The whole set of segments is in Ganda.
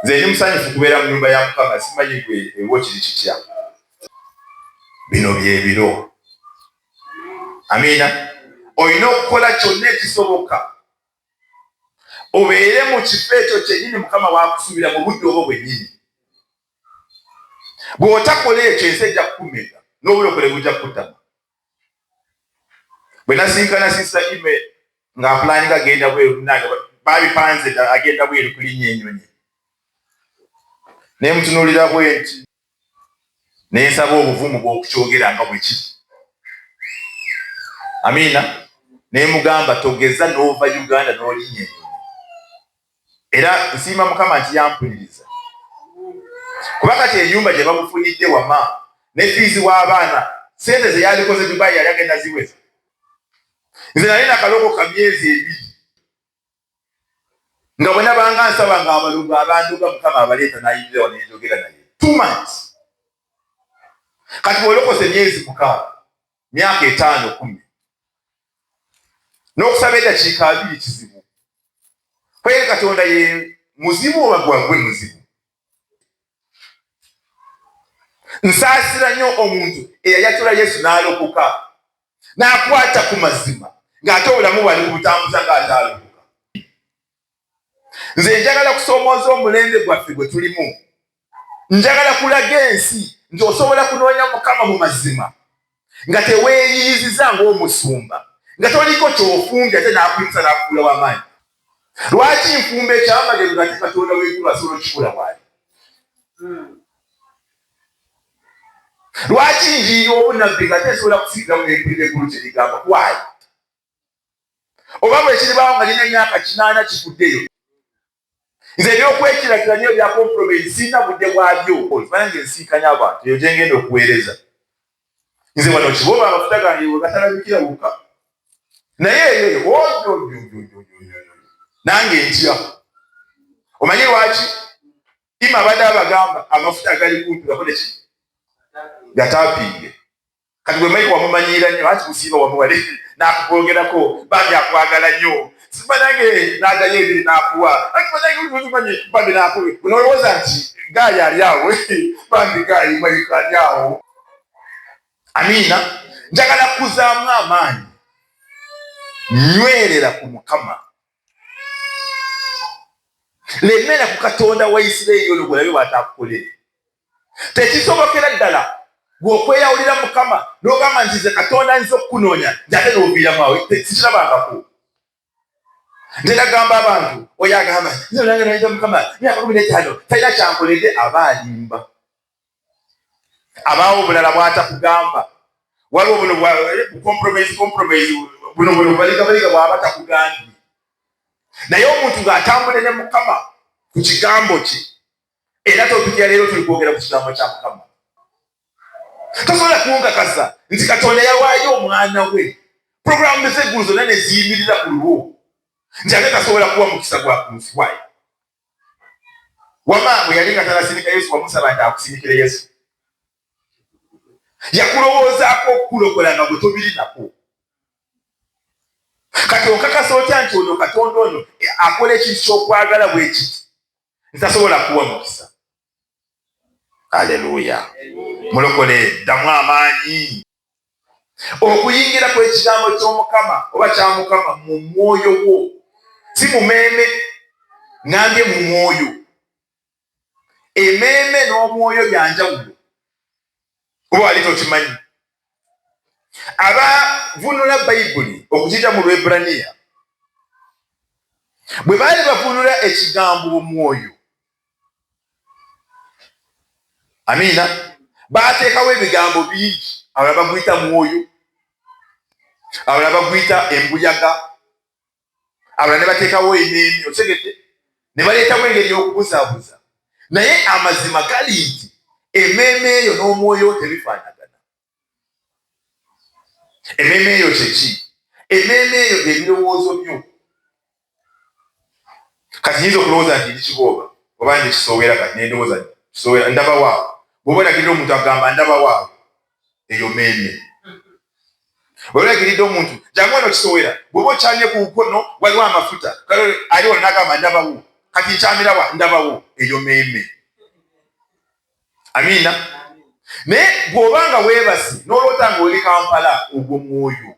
nze ndi musanyufu kubeera mu nyumba ya mukama simanyi gwe ewo kiri kitya bino byebiro amiina olina okukola kyonna ekisoboka obeere mu kifo ekyo kyenyini mukama wakusuubira mu budde obwo bwenyini bw'otakola ekyo ensi ejja kukumeka n'obulokole bujja kukutama bwe nasinkana sisa ime nga apulaninga agenda bweru munange babipanze dda agenda bweru kulinnya enyonyi naye mutunulira bwenti nensaba obuvumu bwokukyogera nga bwekiri amiina nemugamba togeza nova uganda nolinnya enyonyi era nsiima mukama nti yampuliriza kuba kati enyumba gye bamufunidde wama ne fiizi w'abaana sente ze yalikoze dubai yali agenda ziweza nze nali nakaloko ka myezi ebiri nga bwe nabanga nsaba nga abalugu abanduga mukama abaleeta nayingira wano nenjogera naye two months kati bwolokose myezi mukaaga myaka etaano kumi n'okusaba eddakiika abiri kizibu kwe katonda ye muzibu oba gwagwe muzibu nsaasira nnyo omuntu eyayatula yesu n'alokoka n'akwata ku mazima ng'ate obulamu bwali bubutambuza ng'ate alokoka nze njagala kusoomooza omulembe gwaffe gwe tulimu njagala kulaga ensi nti osobola kunoonya mukama mu mazima nga teweeyiyiziza ng'omusumba nga toliko kyofumbya ate n'akuyinza n'akuula w'amaanyi lwaki nfumba ekyamagero nga te katonda w'eggulu asobola okikula waali lwaki njiira obunabbi nga te esobola kusiiga mu eggulu eggulu kye ligamba waali oba bwekiribaawo nga lina emyaka kinaana kiguddeyo nze ebyokwekirakira nyo ebya kompromise sirina budde bwabyo okimanya nga ensinkanya abantu eyo gyengenda okuweereza nze wano kiboba amafuta gange wegatalabikira wokka naye eyo nange ntya omanyi lwaki ima abadde abagamba amafuta agali kumpirako neki gatapiige kati bwe maiko wamumanyiira nnyo anti musiiba wamuwale n'akukwogerako bambi akwagala nnyo sibanange n'agayo ebiri n'akuwa anti banange umanyi bambi n'akuwe unoowooza nti gaayi ali awo bambi gaayi maiko ali awo amiina njagala kuzaamu amaanyi nywerera ku mukama lemera ku katonda wa isiraeri ono gwelabe bwataakukolere tekisobokera ddala gwe okweyawulira mukama nogamba nti ze katonda nza okukunoonya njate noviiramu awo sikirabangako nze nagamba abantu oyo agamba nange nayiza mukama myaka kumi netaano talina kyankolede aba alimba abaawo obulala bwatakugamba waliwo buno bwacompromise compromise buno buno baligabaliga bwaba takugambye naye omuntu ng'atambule ne mukama ku kigambo kye era topiki ya leero tuli kwogera ku kigambo kya mukama tosobola kunkakasa nti katonda yawaayo omwana we puroguramu ezeggulu zonna ne ziyimirira ku lulwo nti ate tasobola kuwa mukisa gwa ku nsi wayo wama bwe yali nga tanasindika yesu wamusaba nti akusindikire yesu yakulowoozaako okukulokola nga bwe tobirinako kati onkakasa otya nti ono katonda ono akola ekintu kyokwagala bwekiti ntasobola kuwa mukisa aleluya mulokole ddamu amaanyi okuyingira kwekigambo kyomukama oba kyamukama mu mwoyo gwo si mumeeme ngambye mu mwoyo emeeme n'omwoyo byanjawulo kuba wali tokimanyi abavunula bayibuli okukita mu lwebraniya bwe baali bavunula ekigambo omwoyo amiina baateekawo ebigambo bingi abala baguyita mwoyo abala baguyita embuyaga abala ne bateekawo emeemi otegedde ne baleetawo engeri y'okubuzaabuza naye amazima gali nti emeeme eyo n'omwoyo tebifaanagana emeeme eyo kyeki emeeme eyo byebirowoozo byo kati nyinza okulowooza nti ndi kibooba oba ndi kisoowera kati nendowooza kisoowera ndaba waawo bwoba olagirira omuntu agamba ndaba waawo eyo meemye waliwo egiridde omuntu jamu eno kisowera bwoba okyamye ku nkono waliwo amafuta ali wano nagamba ndabawo kati nkyamirawa ndabawo eyo meeme amiina naye bwoba nga weebasi noloota nga oli kampala ogwo mwoyo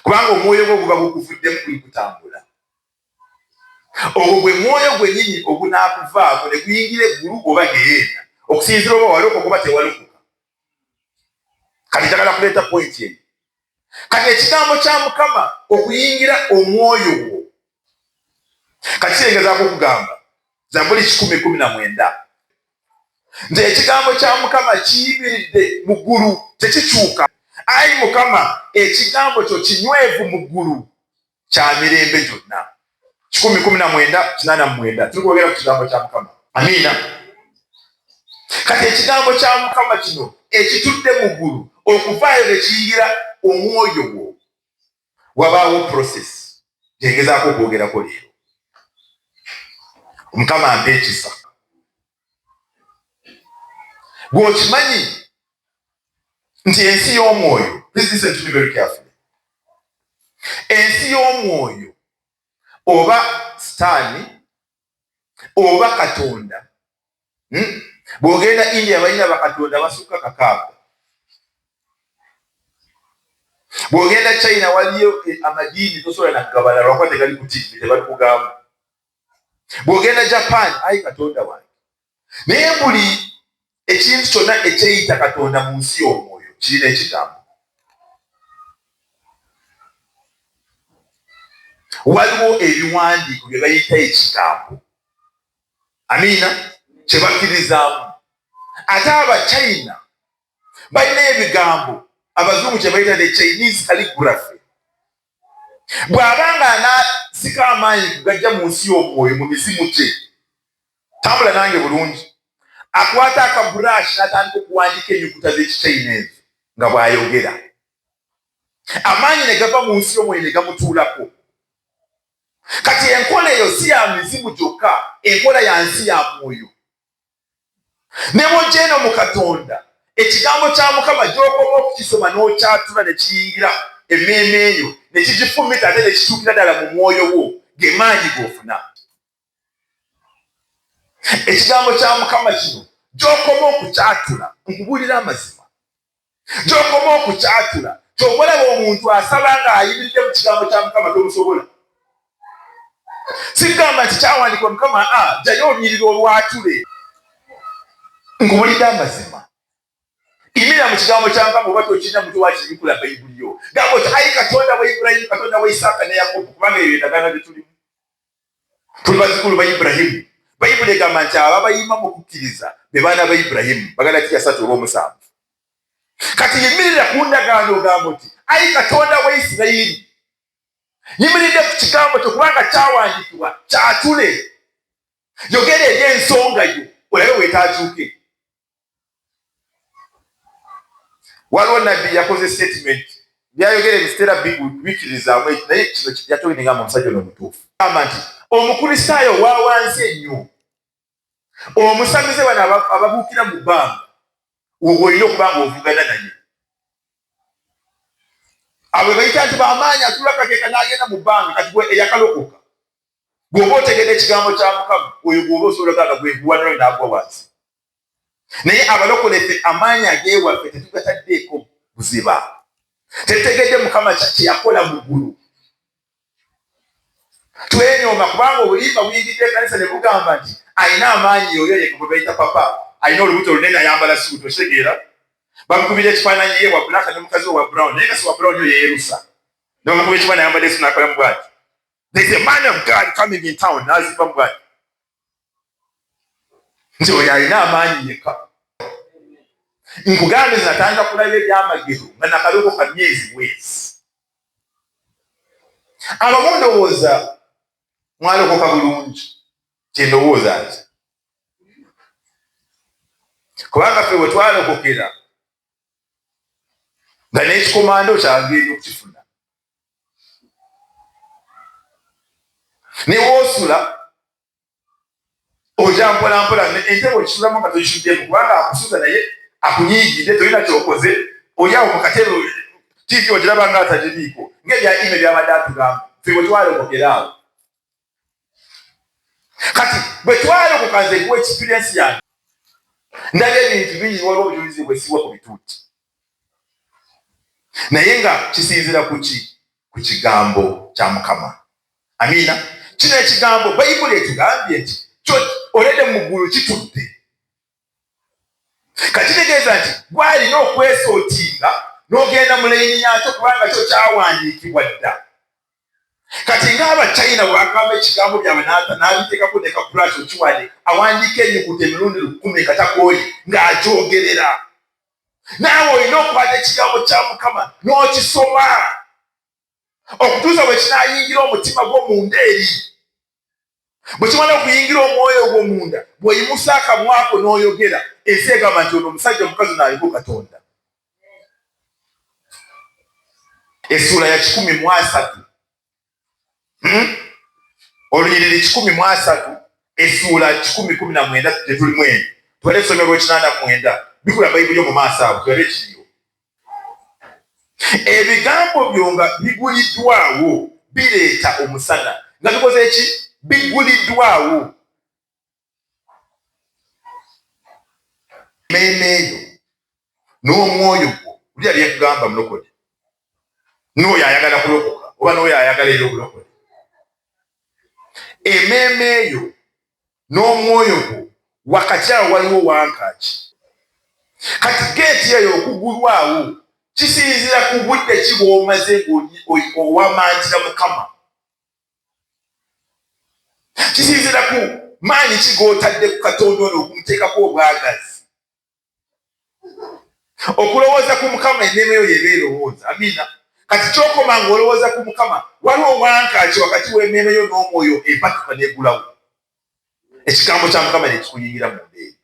kubanga omwoyo gwo guba gukuvuddemu guli kutambula Ogwo gwe mwoyo gwennyini ogunaakuvaako ne guyingira eggulu oba ggeyeena, okusinziira oba walokoka oba tewalokoka. Kati njagala kuleeta pointi eyo. Kati ekigambo kya Mukama okuyingira omwoyo gwo, kati kirengezaako okugamba Zabbuli kikumi kumi na mwenda nti ekigambo kya Mukama kiyimiridde mu ggulu, tekikyuka. Ayi Mukama, ekigambo kyo kinywevu mu ggulu, kya mirembe gyonna. kikumi kumi na mwenda kinaana mu mwenda tuli kwogera ku kigambo kya Mukama. Amiina. Kati ekigambo kya Mukama kino ekitudde mu ggulu okuvaayo ne kiyingira omwoyo gwo, wabaawo process gye ngezaako okwogerako leero. Mukama ampa ekisa. gwe okimanyi nti ensi y'omwoyo ensi y'omwoyo oba sitaani oba katonda hmm? bw'ogenda india balina bakatonda basukka kakaaga bw'ogenda china waliyo eh, amadiini tosobola nakugabala lwakuba tegali ku tivi tebalikugamu bw'ogenda japan ayi katonda wange naye buli ekintu kyonna ekyeyita katonda mu nsi y'omwoyo kirina ekigambo waliwo ebiwandiiko bye bayita ekigambo amiina kye bakkirizaamu ate abachina balina ebigambo abazungu kye bayita ne chinese calligraphy bw'aba nga anaasika amaanyi kugajja mu nsi y'omwoyo mu mizimu gye tambula nange bulungi akwata akaburaashi n'atandika okuwandiika ennyukuta z'ekichina ezo nga bw'ayogera amaanyi ne gava mu nsi y'omwoyo ne gamutuulako kati enkola eyo si ya mizimu gyokka enkola ya nsi ya mwoyo ne bw'ojja eno mu katonda ekigambo kya mukama gy'okoma okukisoma n'okyatula ne kiyingira emmeeme eyo ne kigifumita ate ne kituukira ddala mu mwoyo wo ge maanyi g'ofuna ekigambo kya mukama kino gy'okoma okukyatula nkubuulira amazima gyokoma okukyatula kyobalaba omuntu asaba nga ayimiride mu kigambo kya mukama tomusobola sigamba nti kyawandikwa mukama a ah, jayo onyirira olwatule nkubuliga amazima imira mu kigambo kya mukama oba tokirina mutu wakibikula bayibuli yo gamba oti ayi katonda wa ibulayimu katonda wa isaaka ne yakobo kubanga ebyo endagaano byetulimu tuli bazukulu ba Iburahimu. Bayibuli egamba nti abo abayima mu kukkiriza be baana ba Iburahimu, baganda ki yasatu oba omusanvu. Kati yimirira ku ndagaano ogamba oti ayi Katonda wa Isirayiri, yimiridde ku kigambo kyo kubanga kyawandiikibwa kyatule, yogera eri ensonga yo olabe wetaakyuke. waliwo nabbi yakoze statement byayogera ebiseera bikirizaamu eki naye kino yatoinigamba omusajja ono omutuufu gamba nti omukristaayo owawansi ennyo omusamize bano ababuukira mu bbanga woba olina okuba nga ovugana naye abo bayita nti bamaanyi atula kakeeka n'agenda mu bbanga kati eyakalokoka bw'oba otegedde ekigambo kya mukama oyo gwoba osobola gaga gweguwaniro naagwa wansi naye abalokole ffe amaanyi agewaffe tetugataddeeko buziba tetutegedde mukama kyeyakola mu ggulu twenyooma kubanga obulimba buyingidde ekanisa ne bugamba nti alina amaanyi oyo yeka gwe bayita papa alina olubuto lunene ayambala suuti okitegeera bamukubira ekifaananyi ye wa black ne mukazi we wa brown naye kasi wa brown yo yeyerusa nebamukuba ekifaananyi ayambadde esunakolamu bwati There's a man of God coming in town n'azimba mu bwanyi nti oyo alina amaanyi yekka nkugambe natandika kulaba ebyamagero nga nakaloko ka myezi bwezi abamu ndowooza mwalokoka bulungi kyendowooza nti kubanga fe wetwalokokera nga n'ekikomando kyange ebyokukifuna ne woosula oja mpolampola ente bwekisulamu nga toyisuddemu kubanga akusuza naye akunyiigidde tolina kyokoze oli awo mu katebe tiivi ogiraba nga atagiriiko ng'ebya ime byabadde atugamba fe bwe twalogokera awo kati bwe twalokoka nze kuwa ekipiriensi yange ndaba ebintu bingi waliwo obujulizi bwesibwa ku bituuti naye nga kisinzira kuki ku kigambo kya mukama amiina kino ekigambo bayibuli ekigambye nti olede mu ggulu kitudde kakitegeeza nti gwalina okwesotinga nogenda mu layini yakyo kubanga kyo kyawandiikibwa dda kati ngaaba china bwagamba ekigambo byabwe nabitekako neka brush okiwande awandiika enyukuta emirundi lukumi nga takooye ng'agyogerera naawe olina okwata ekigambo kya mukama n'okisoma okutuusa bwe kinaayingira omutima gwo munda eri bwe kimala okuyingira omwoyo ogwo munda bw'oyimusa akamwako n'oyogera ensi egamba nti ono omusajja omukazi naaliko katonda essuula ya kikumi mu asatu hmm? olunyiriri kikumi mu asatu essuula kikumi kumi na mwenda tetulimu eno tubale esomero lwekinaana mwenda bikula bayibuli yo mu maaso abo tulabe kiriyo Ebigambo byo nga biguliddwawo bireeta omusana. Nga bikoze ki? Biguliddwawo. Emmeeme eyo n'omwoyo gwo, wulira bye nkugamba mulokole, n'oyo ayagala kulokoka oba n'oyo ayagala era obulokole. Emmeeme eyo n'omwoyo gwo wakati awo waliwo wankaaki. Kati geeti eyo okugulwawo kisinzira ku budde ki bw'omaze ng'owamantira Mukama. Kisinzira ku maanyi ki g'otadde ku Katonda ono okumuteekako obwagazi. okulowooza ku mukama enneema eyo yeeba erowooza amiina kati kyokoma nga olowooza ku mukama waliwo owankaaki wakati w'emmeeme yo n'omwoyo empatuka negulawo ekigambo kya mukama nekikuyingira mu mbeeri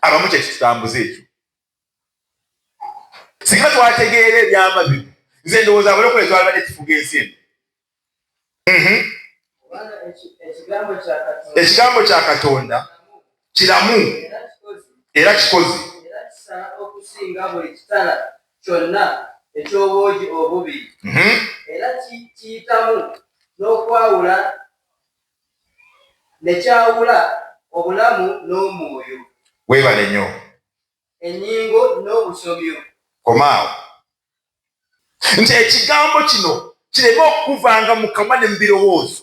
abamu kyekitutambuza ekyo singa twategeera ebyama bino nze ndowooza abalokole twalibadde tufuga ensi eno mhm. ekigambo kya katonda kiramu era kikozi ekyobwogi obubi mhm. era kiyitamu n'okwawula nekyawula obulamu n'omwoyo webale nyo enyingo n'obusomyo komaawo nti ekigambo kino kireme okukuvanga mu kamwa ne mu birowoozo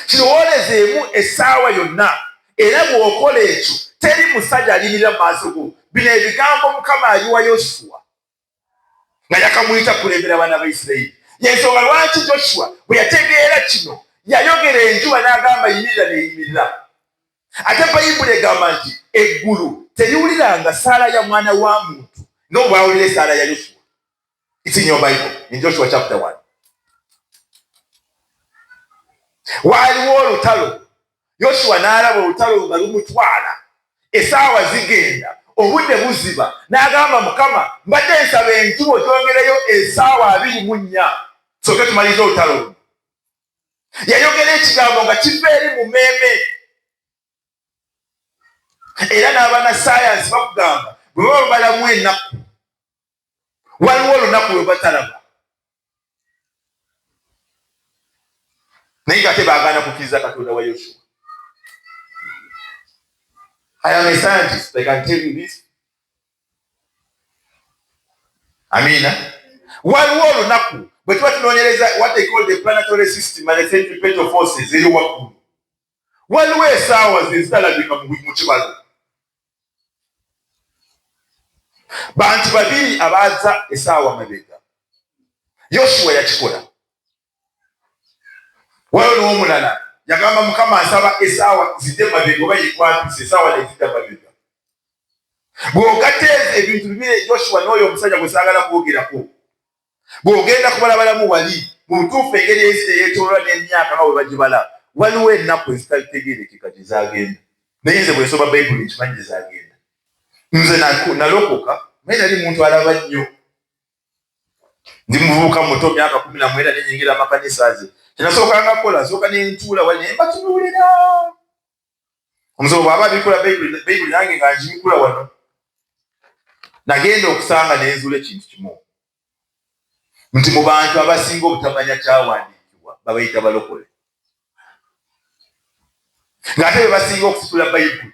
kirowoolezeemu essaawa yonna era bw'okola ekyo teri musajja alimirira mu maaso go bino ebigambo mukama ayiwa yosua nga yakamuyita kulembera abaana ba isirairi yensonga lwaki joshua bwe yategeera kino yayogera enjuba n'agamba yimirira neyimirira ate bayibuli egamba nti eggulu teriwuliranga saala ya mwana wa muntu nga obwawulira esaala ya yosuwa isinyo bible in joshua chapter one waaliwo olutalo yosuwa n'alaba olutalo nga lumutwala esaawa zigenda obudde buziba n'agamba mukama mbadde nsaba enjuba ogyongereyo esaawa abiri mu nnya soke tumaliriza olutalo luno yayogera ekigambo nga kiva eri mu meeme era n'abana sayansi bakugamba bwe baba balamu ennaku waliwo olunaku lwe batalaba naye nga te baagaana kukkiriza katonda wa yosua I am a scientist. I can tell you this. amiina waliwo olunaku bwe tuba tunoonyereza what they call the planetary system and the centripetal forces eyo waggulu waliwo esaawa ze zitalabika mu kibalo bantu babiri abaaza esaawa mabega yoshuwa yakikola Waliwo n'omulala yagamba Mukama asaba esaawa zidde mabega oba yekwatuse esaawa nezidda mabega. Bw'ogatta ezo ebintu bibiri Joshua n'oyo omusajja gwe saagala kwogerako, bw'ogenda kubalabalamu wali mu butuufu engeri ensi gye yeetooloola n'emyaka nga bwe bagibala, waliwo ennaku ezitalitegeerekeka gye zaagenda. Naye nze bwe nsoma Bayibuli nkimanyi gye zaagenda. Nze nalokoka naye nali muntu alaba nnyo. ndi muvubuka muto myaka kumi na mwenda nenyingira amakanisa ze kyenasookanga kukola sooka nentuula wali naye mbatunuulira omusomo bwaba abikula bayibuli nange nga ngibikula wano nagenda okusanga nenzuula ekintu kimu nti mu bantu abasinga obutamanya kyawandiikibwa babayita balokole ng'ate bebasinga okusitula bayibuli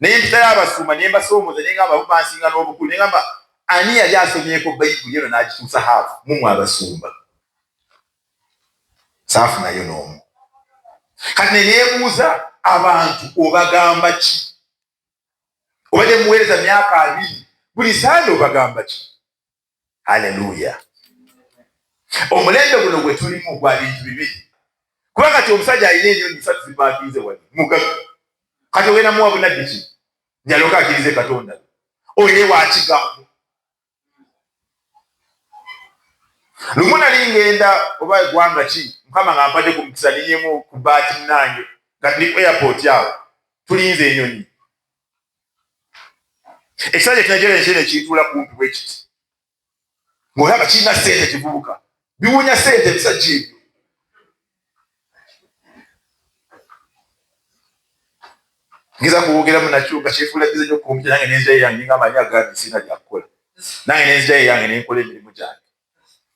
ne mpitayo Abasumba ne mbasoomooza ne ngamba bo bansinga n'obukulu ne ngamba ani yali asomyeko Bayibuli eno n'agituusa haafu mu mwe Abasumba? Saafunayo n'omu. Kati ne neebuuza abantu obagamba ki? Obadde muweereza myaka abiri, buli Sande obagamba ki? Haleluya! Omulembe guno gwe tulimu gwa bintu bibiri, kuba kati omusajja alina enyonyi satu zipakinze wali mugaga, kati ogenda muwa bunabbi ki njaloka akirize Katonda oye wakigambo lumu nali ngenda oba egwanga ki mukama nga mpade ku mukisa ninyemu ku baati nange nga tuli ku airport awo tulinze enyonyi ekisajja ekinajera enkyera ekiyituula kumpi bwe kiti ng'olaba kirina sente kivubuka biwunya sente ebisajja ebyo ngeza kuwogeramu nakyo nga kyefuula bize nyo kumpi nange nenzira yange nga amanyi agambi sirina byakukola nange nenzira yange nenkola emirimu gyange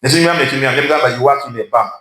netunywamu ekimu yange mugamba yiwakina ebanka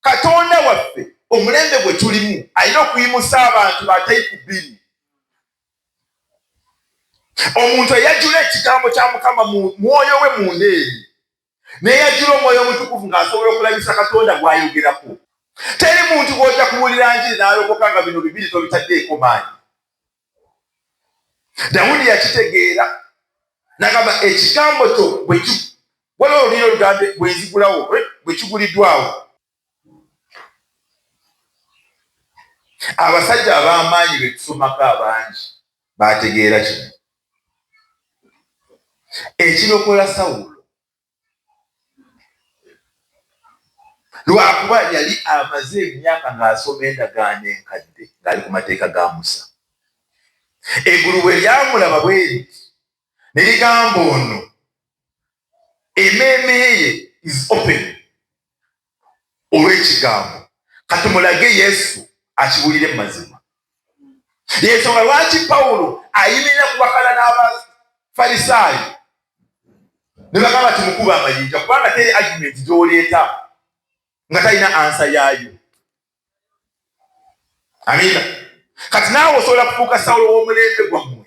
Katonda waffe omulembe gwe tulimu alina okuyimusa abantu batali ku bbiri. Omuntu eyajula ekigambo kya Mukama mu mwoyo we munda eri neyajula omwoyo omutukuvu ng'asobola okulabisa Katonda gw'ayogerako. Teri muntu gw'ojja kubuulira njiri n'alokoka nga bino bibiri tobitaddeeko maanyi. dawudi yakitegeera nagamba ekigambo kyo waliwo oluliro lugambe bwenzigulawo bwekiguliddwawo abasajja ab'amaanyi betusomako abangi bategeera kino ekirokola sawulo lwakuba yali amaze emyaka ng'asoma endagaano enkadde ng'ali ku mateeka ga musa eggulu bwe lyamulaba bweri ne ligamba ono emeeme ye is open olw'ekigambo kati mulage yesu akibuulire mu mazima yensonga lwaki pawulo ayimirira ku bakala n'abafalisaayo ne bagamba ti mukuba amayinja kubanga teri agimenti gy'oleeta nga talina ansa yaayo amina kati naawe osobola kufuuka sawulo w'omulembe gwammwe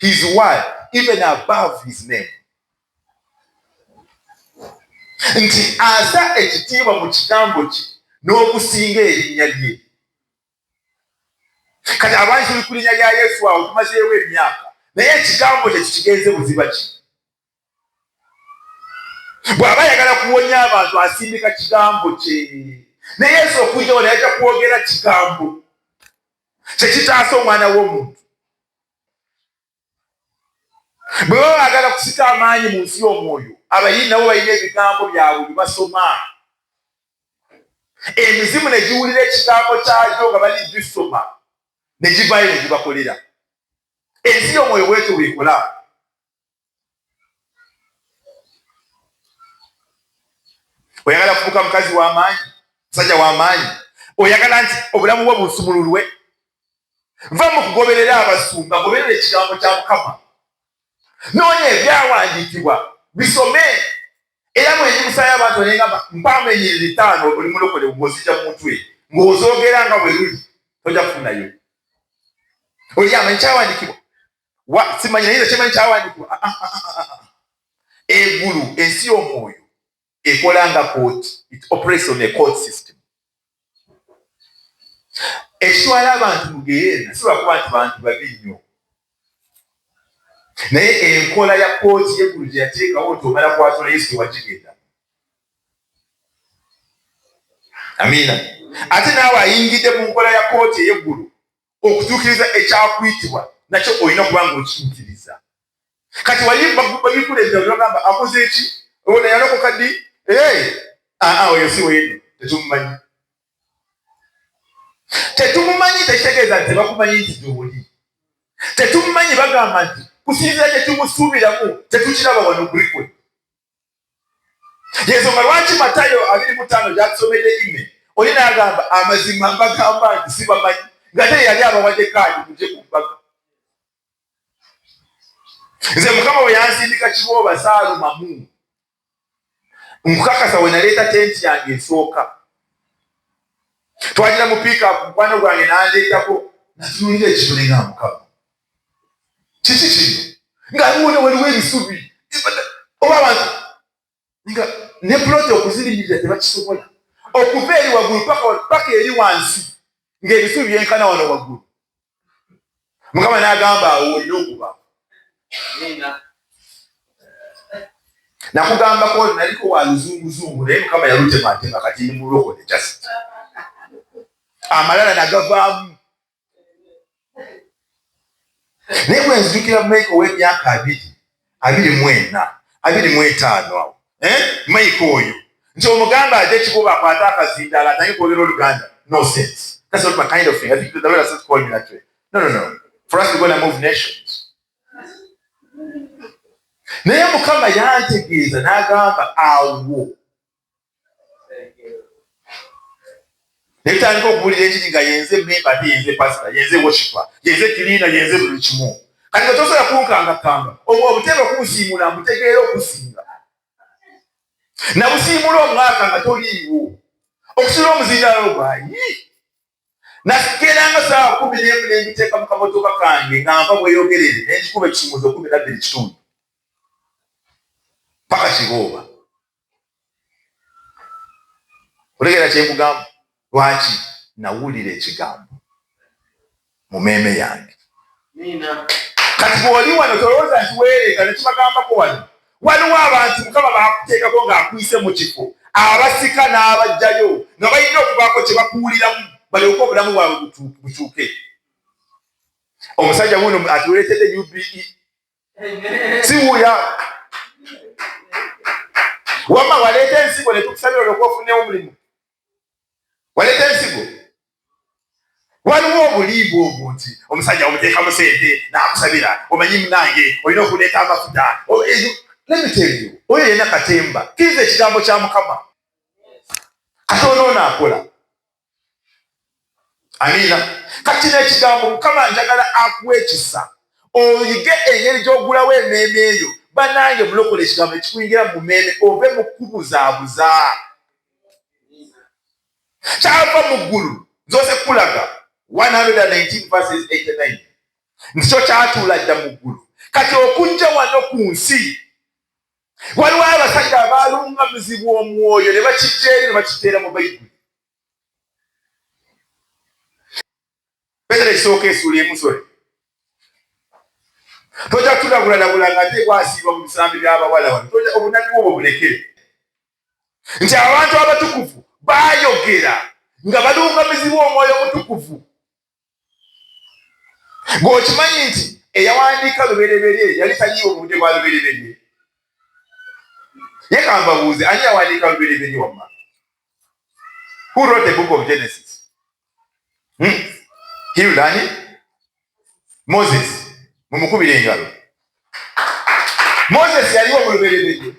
He is why even above his name nti asa ekitiibwa mu kigambo kye n'okusinga erinnya lye kati abantu tuli ku linnya lya yesu awo tumazeewo emyaka naye ekigambo kye kikigenze buziba ki bw'aba ayagala kuwonya abantu asindika kigambo kye ne yesu okujja wano yajja kwogera kigambo kyekitaasa omwana w'omuntu bwe baba baagala kusika amaanyi mu nsi y'omwoyo abayini nabo balina ebigambo byabwe bye basoma emizimu ne giwulira ekigambo kyagyo nga bali gisoma ne givaayo ne gibakolera ensi y'omwoyo bwetyo bwekola oyagala kufuuka mukazi w'amaanyi musajja w'amaanyi oyagala nti obulamu bwo busumululwe va mu kugoberera abasumba goberera ekigambo kya mukama noonya ebyawandiikibwa bisome era mwenyi musaayo abantu nengamba mpaamu enyiriri ttaano oli mulokole ng'ozija mu mutwe ng'ozoogera nga bwe luli tojja kufunayo oli amanyi kyawandiikibwa wa simanyi naye kyemanyi kyawandiikibwa ah, ah, ah, egulu ensi y'omwoyo ekola nga kooti it operates on a court system ekitwala abantu mugeyeena si lwakuba nti bantu babi nnyo naye enkola ya kooti yegulu gyeyateekawo nti omala kwatula yesu tewagigenda amiina ate naawe ayingidde mu nkola ya kooti eyeggulu okutuukiriza ekyakuyitibwa nakyo olina kuba nga okiyitiriza kati wayibabikuleza olagamba akoze eki ona yalokoka ddi aa oyo si weyeno tetumumanyi tetumumanyi tekitegeeza nti tebakumanyi nti gyoli tetumumanyi bagamba nti kusinzira kyekimusuubiramu tetukiraba wano kulikwe yensonga lwaki matayo abiri mutaano gyatusomedde ime oli nagamba amazima mbagamba nti sibamanyi ngate yali abawadde kaadi muje ku mbaga nze mukama we yansindika kibooba saalumamu nkukakasa we naleeta tenti yange esooka twagira mu piika mukwano gwange nandeetako natunulira ekibulinga mukama kiki kino nga wona waliwo ebisubi oba abantu nga ne puloti okuzirimirira tebakisobola okuva eri waggulu paka eri wansi ng'ebisubi byenkana wano waggulu mukama n'agamba awo olina okuba nakugambako naliko wa luzunguzungu naye mukama yalutematema kati ndi mulokole jasi amalala nagavaamu naye bwe nzijukira mayiko ow'emyaka abiri abiri mu ena abiri mu etaano awo eh? mayiko oyo nti omuganda aja ekikuba akwate akazindaala atange kwogera oluganda no sense that's not my kind of thing i think the lord has not called me that way no no no for us to go and move nations naye mukama yantegeeza n'agamba awo netandika okuwulira enjiri nga yenze memba ate yenze pasita yenze woshipa yenze kiliina yenze buli kimu kati nga tosobola kunkangakanga obwo obutebe okubusiimula mbutegeera okusinga nabusiimula omwaka nga toliiwo okusula omuzindaalo ogwayi nakeeranga saawa kumi nemu nembiteeka mu kamotoka kange nga nva bweyogerere nengikuba ekisumuzo kumi nabbiri kitundu paka kibooba otegera kyekugamba lwaki nawulira ekigambo mu meeme yange kati bwoli wano tolowooza nti weereeta nekibagambako wano waliwo abantu mukama bakuteekako ng'akuyise mu kifo abasika n'abajjayo nga balina okubaako kye bakuwuliramu balyoke obulamu bwabwe bukyuke omusajja wuno atuleetedde ube siwuya wama waleeta ensigo netukusabira olyoka ofunewo omulimu waleeta ensigo waliwo obulimba obwo nti omusajja omuteekamu sente nakusabira omanyi munange olina okuleeta amafuta nemiteeyo oyo yena katemba kiriza ekigambo kya mukama katonoona akola amiina kati nekigambo mukama njagala akuwa ekisa oyige engeri gyogulawo emeeme eyo banange mulokola ekigambo ekikuyingira mu meeme ove mu kubuzabuza kyava mu ggulu nzoze kulaga 119 nti kyo kyatuula dda mu ggulu kati okujja wano ku nsi Waliwo abasajja abaalungamizibwa omwoyo ne bakijja eri ne bakiteera mu Bayibuli. Petero ekisooka esuula emusole tojja kutulabulabula nga ate kwasiibwa mu bisambi by'abawala wano tojja obunabbi obwo bulekere nti abantu abatukuvu baayogera nga balungamizibwa omwoyo omutukuvu ng'okimanyi nti eyawandiika lubereberye yali tanyiiwo mu budde bwa lubereberye ye kambabuuze ani yawandiika lubereberye wamma who wrote the book of genesis hmm? hilani moses mumukubira engalo moses yaliwo mu lubereberye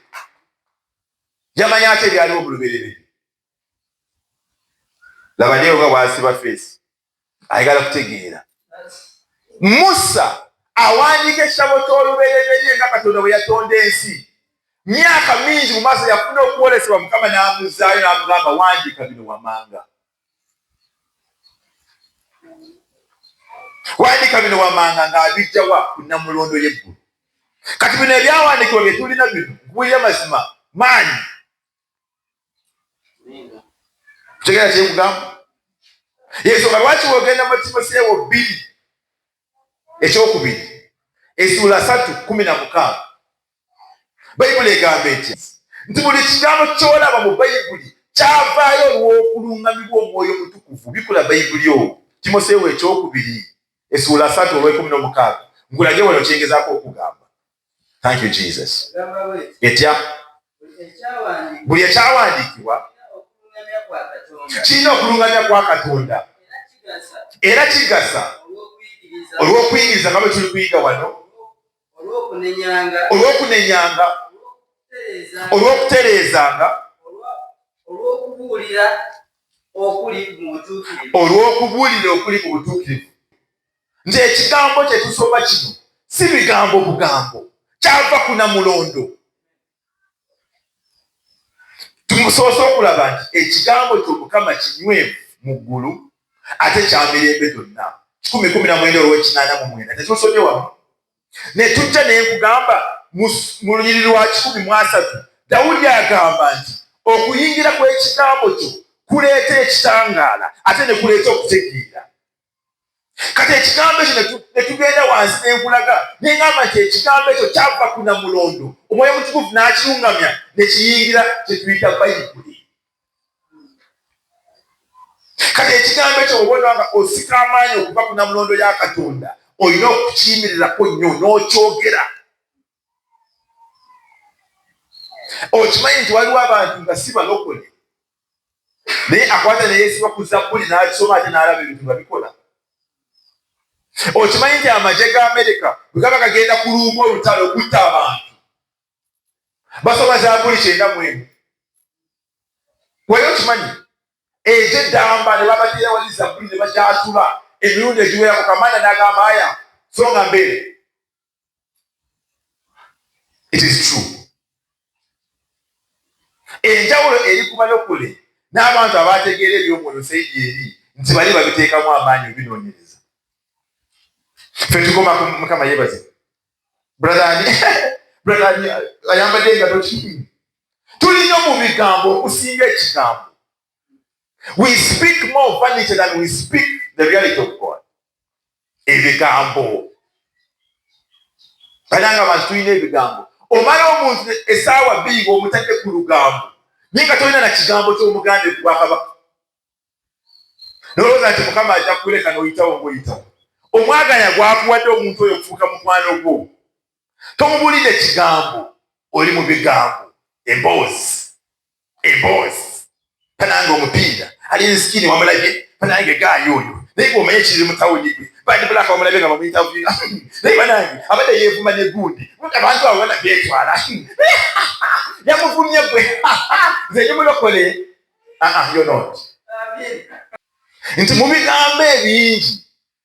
yamanya ate ebyaliwo mu lubereberye laba lyewo nga bwasiba feesi ayagala kutegeera musa awandiika ekitabo ky'olubereberye nga katonda bwe yatonda ensi myaka mingi mu maaso yafuna okwolesebwa mukama n'amuzaayo n'amugamba wandiika bino wamanga wandiika bino wamanga ng'abijjawa ku namulondo y'eggulu kati bino ebyawandiikibwa bye tulina bino nkubuulira mazima maanyi tegera kyekugamba yensonga lwaki wogenda mu timoseewo bbiri ekyokubiri esuula satu kumi na mukaaga bayibuli egamba eti nti buli kigambo kyolaba mu bayibuli kyavaayo olw'okulungamibwa omwoyo mutukuvu bikula bayibuli owo timoseewo ekyokubiri esuula satu olwekumi nomukaaga nkulage wano kyengezako okugamba Thank you Jesus. Etya buli ekyawandiikibwa kirina okulungamya kwa Katonda era kigasa olw'okuyigiriza nga bwe tuli kuyiga wano, olw'okunenyanga, olw'okutereezanga, olw'okubuulira okuli mu butuukirivu. nti ekigambo kye tusoma kino si bigambo bugambo, kyava ku namulondo. Tumusoose okulaba nti ekigambo ky'Omukama kinywevu mu ggulu ate kya mirembe gyonna. kikumi kumi na mwenda olw'ekinaana mu mwenda tetusomye wamu ne tujja naye nkugamba mu lunyiri lwa kikumi mu asatu dawudi agamba nti okuyingira kw'ekigambo kyo kuleeta ekitangaala ate ne kuleeta okutegeera kati ekigambo ekyo netugenda wansi nenkulaga nengamba nti ekigambo ekyo kyava ku namulondo omwoyo mutukuvu n'akirungamya nekiyingira kyetuyita bayibuli kati ekigambo ekyo obona nga osika amaanyi okuva ku namulondo ya katonda olina okukiyimirirako nnyo n'okyogera okimanyi nti waliwo abantu nga si balokole naye akwata neyesiba ku zabbuli n'agisoma ate n'alaba ebintu nga bikola okimanyi nti amagye ga amerika bwe gaba gagenda kuluumu olutalo okutta abantu basoma zabbuli kyenda mu emu wali okimanyi egye ddamba ne babatera wali zabbuli ne bakyatula emirundi egiwerako kamanda n'agamba aya songa mbeere it is true enjawulo eri ku balokole n'abantu abaategeera eby'omwoyo saidi eri nti bali babiteekamu amaanyi obinoonyereza fe tukoma mukama yebaze bradhani bradhani ayambadde engato kii tulinyo mu bigambo okusinga ekigambo We speak more vanity than we speak the reality of God. Ebigambo. Balanga abantu tulina ebigambo. Omala omuntu esaawa bbiri ng'omutadde ku lugambo. Naye nga tolina na kigambo ky'omuganda ekubwakabaka. Nolowooza nti Mukama ajja kuleka n'oyitawo ng'oyitawo. Omwaganya gwakuwadde omuntu oyo okufuuka mukwano gwo. tomubulidde kigambo oli mu bigambo emboozi emboozi panange omupiira ali nsikini wamulabye panange gaayo oyo naye bwomanyi ekiri mu tawuni gwe bandi bulaka wamulabye nga bamuyitavuira naye banange abadde yeevuma ne gundi abantu abo bana beetwala yamuvumye gwe nze nyumulokole aa ah, ah, yonot nti mu bigambo ebingi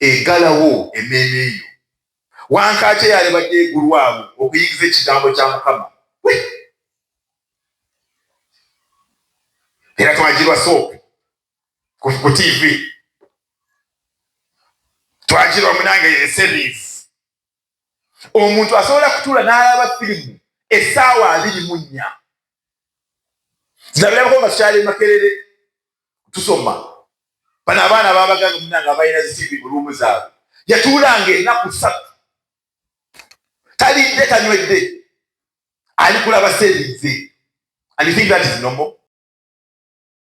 egalawo emmeeme eyo. Wankaaki eyaali badde egulwawo okuyigiza ekigambo kya Mukama. Era twagirwa soopu ku TV. Twagirwa munange eseries. Omuntu asobola kutuula n'alaba firimu essaawa abiri mu nnya. Zirabirako nga tukyali Makerere. tusoma bano abaana babaganga munange abalina zitivi mu luumu zaabwe yatuulanga enaku satu talidde tanywedde ali kulaba seebize and you think that is normal